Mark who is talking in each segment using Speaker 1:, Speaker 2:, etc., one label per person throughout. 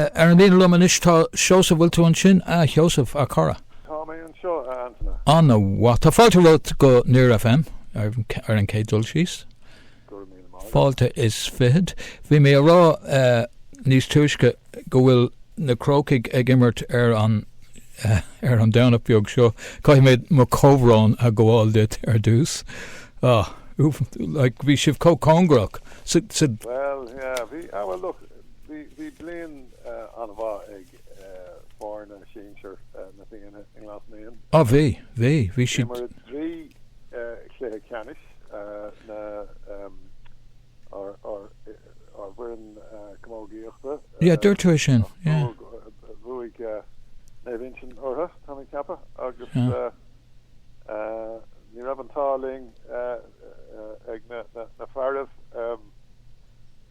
Speaker 1: Ar an líne liom anois tá Seosamh. Bhfuil tú ansin a Sheosaimh, a chara? Tá mé anseo,
Speaker 2: a Antaine. Ana mhaith.
Speaker 1: Tá fáilte romhat go Near FM ar an chéad dul síos. Go raibh míle maith agat. Fáilte is fiche. Bhí mé a rá níos túisce go bhfuil na Crócaigh ag imirt ar an ar an Domhnach beag seo. Caithfidh mé mo chomhbhrón a ghabháil duit ar dtús. Like, bhí sibh chomh cóngarach. Bhuel,
Speaker 2: yeah, bhí, ah bhuel look. Bhí bliain an-mhaith ag foirne sinsir na Fianna i nGlas Naíon i mbliana. D'imir
Speaker 1: siad trí
Speaker 2: chluiche ceannais na ár bhfoireann camógaíochta. Yeah, dúirt
Speaker 1: tú sin, yeah, agus
Speaker 2: bhuaigh Naomh Uinsionn orthu, tá mé ag ceapadh, agus ní raibh an t-ádh linn ag na fearaibh.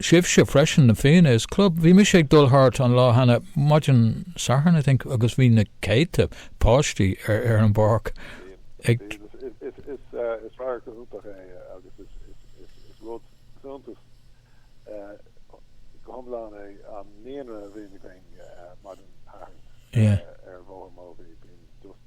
Speaker 1: sibhse freisin, na Fianna is Club. Bhí mise ag dul thart an lá cheana féin, maidin Sathairn I think, agus bhí na céadta páistí ar an bpáirc ag. Is radharc iontach é
Speaker 2: agus is rud suntais go hiomlán é an naíonra a bhíonn againn maidin Sathairn ar
Speaker 1: Bhóthar Mobhí.
Speaker 2: Bíonn just.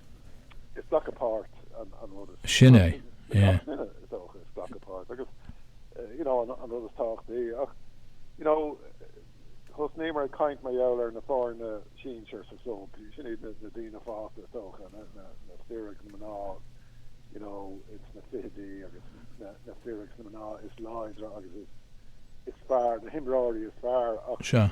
Speaker 2: Is glacadh páirt, glacadh páirt agus an rud is tábhachtaí ach thosnaíomar ag caint mar gheall ar na foirne sinsir sa chlub, sin iad na daoine fásta is dócha, na fir agus na mná sna fichidí agus na fir agus na mná is láidre agus is fearr, na himreoirí is fearr ach.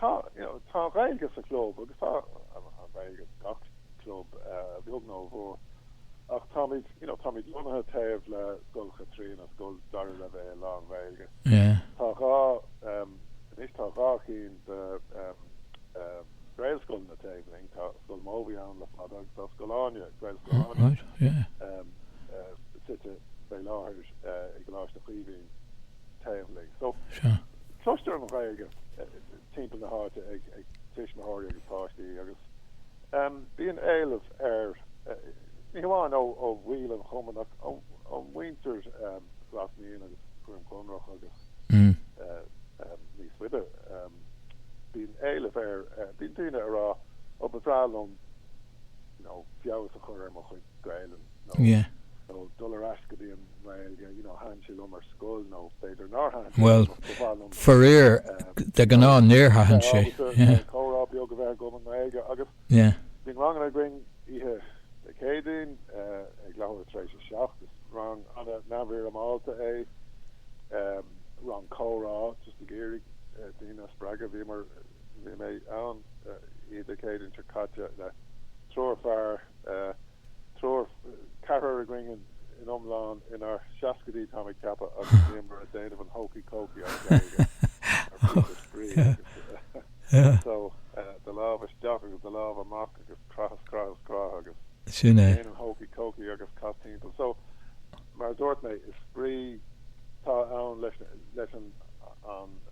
Speaker 2: Tá, you know, tá an Ghaeilge sa Chlub agus tá an Ghaeilge in gach Club, a bheag nó a mhór, ach táimid, you know, táimid lonnaithe taobh le Scoil Chaitríona, scoil dara leibhéal lán Ghaeilge. Tá dhá, em, anois tá dhá chinn de, em, em, Gaelscoileanna taobh linn, tá Scoil Mobhí ann le fada agus tá Scoil Áine, Gaelscoil Áine, em, eh, suite fé láthair, eh, i gColáiste Chaoimhín. teaghlaigh. So cloistear an Ghaeilge timpeall na háite ag tuismitheoirí agus páistí agus bíonn éileamh air, ní hamháin ó bhaill an chumainn ach ó mhuintir Ghlas Naíon agus Dhroim Conrach agus níos faide. Bíonn éileamh air, bíonn daoine a' rá 'Ó ba bhreá liom, you know, feabhas a chur ar mo chuid Gaelainne. nó nó dul ar ais go dtí an nGaeilge, you know, thaitin sé liom ar scoil nó b'fhéidir nár thaitin sé liom
Speaker 1: ach ba mhaith liom Faraor, de ghnáth níor thaitin sé. comhrá beag
Speaker 2: a bheith agam i nGaeilge agus bíonn ranganna againn oíche Dé Céadaoin ag leathuair tar éis a seacht. Is rang an-neamhfhoirmeálta é, rang comhrá just ag iarraidh daoine a spreagadh. Bhíomar, bhí mé ann oíche Dé Céadaoin seo caite le triúr fear, Triúr, ceathrar againn san iomlán inár seascaidí táim ag ceapadh agus bhíomar a' déanamh an Hokey Cokey as Gaeilge mar phíosa spraoi agus so do lámh isteach agus do lámh amach agus croith is croith is croith agus déan an
Speaker 1: Hokey
Speaker 2: Cokey agus cas timpeall. So mar a dúirt mé is spraoi atá ann leis an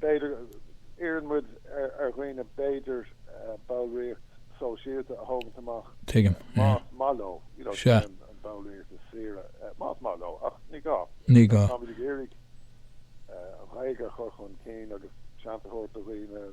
Speaker 2: B'fhéidir, iarrann muid ar dhaoine b'fhéidir ballraíocht sóisialta a thógaint amach más maith
Speaker 1: leo, you know,
Speaker 2: sin an bhallraíocht is saoire, más maith leo, ach ní gá. Ní gá. Táimid
Speaker 1: ag
Speaker 2: iarraidh an Ghaeilge a chur chun cinn agus seans a thabhairt do dhaoine.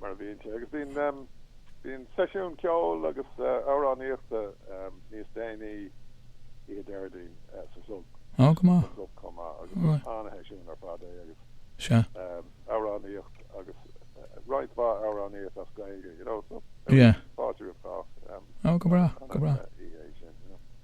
Speaker 2: mar a bhíonn sé, agus bíonn bíonn seisiún ceoil agus amhránaíochta níos déanaí oíche Déardaoin sa chlub. Ó go maith. Sa chlub
Speaker 1: chomh maith agus is
Speaker 2: an-sheisiún ar fad é agus Sea. amhránaíocht agus roinnt mhaith amhránaíocht as Gaeilge, you know, so Yeah. fáilte roimh chách. Ó go
Speaker 1: breá, go breá.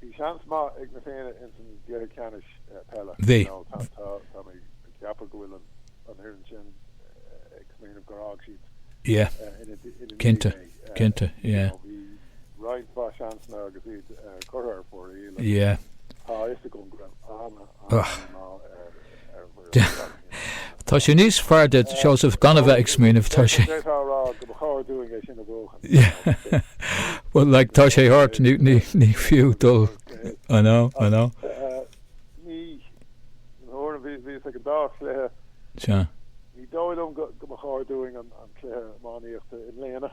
Speaker 2: Bhí seans maith ag Na Fianna ins an gcluiche ceannais peile nó
Speaker 1: tá mé
Speaker 2: ag ceapadh go bhfuil an fhoireann sin ag smaoineamh gur fhág
Speaker 1: siad ina ndiaidh é. Cinnte.
Speaker 2: Bhí roinnt mhaith seansanna agus iad curtha ar fóraoil agus tá a
Speaker 1: fhios agam go
Speaker 2: raibh ana,
Speaker 1: Ach tá sé níos fearr duit, Seosamh, gan a bheith ag smaoineamh. Tá sé. Céard tá a rá go mba chóir dúinn é sin a bhuachan? Bhuel, like, tá sé thart, ní fiú dul I know, I
Speaker 2: know. Ní, nuair a, bhíos ag an dá chluiche. Sea. Ní
Speaker 1: dóigh liom
Speaker 2: go mba chóir dúinn an cluiche iománaíochta i mbliana.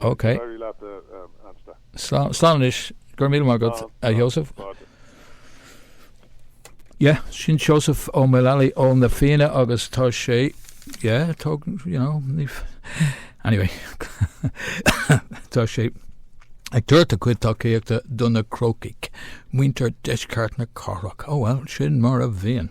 Speaker 1: Ok. Slán anois. Go raibh
Speaker 2: míle maith
Speaker 1: agat, a Sheosaimh. Yeah, sin Seosamh Ó Maolalaí ó Na Fianna agus tá sé, yeah, tóg, you know, ní, anyway, tá sé ag tabhairt a cuid tacaíochta do na Crócaigh, muintir deisceart na cathrach. Oh well, sin mar a bhíonn.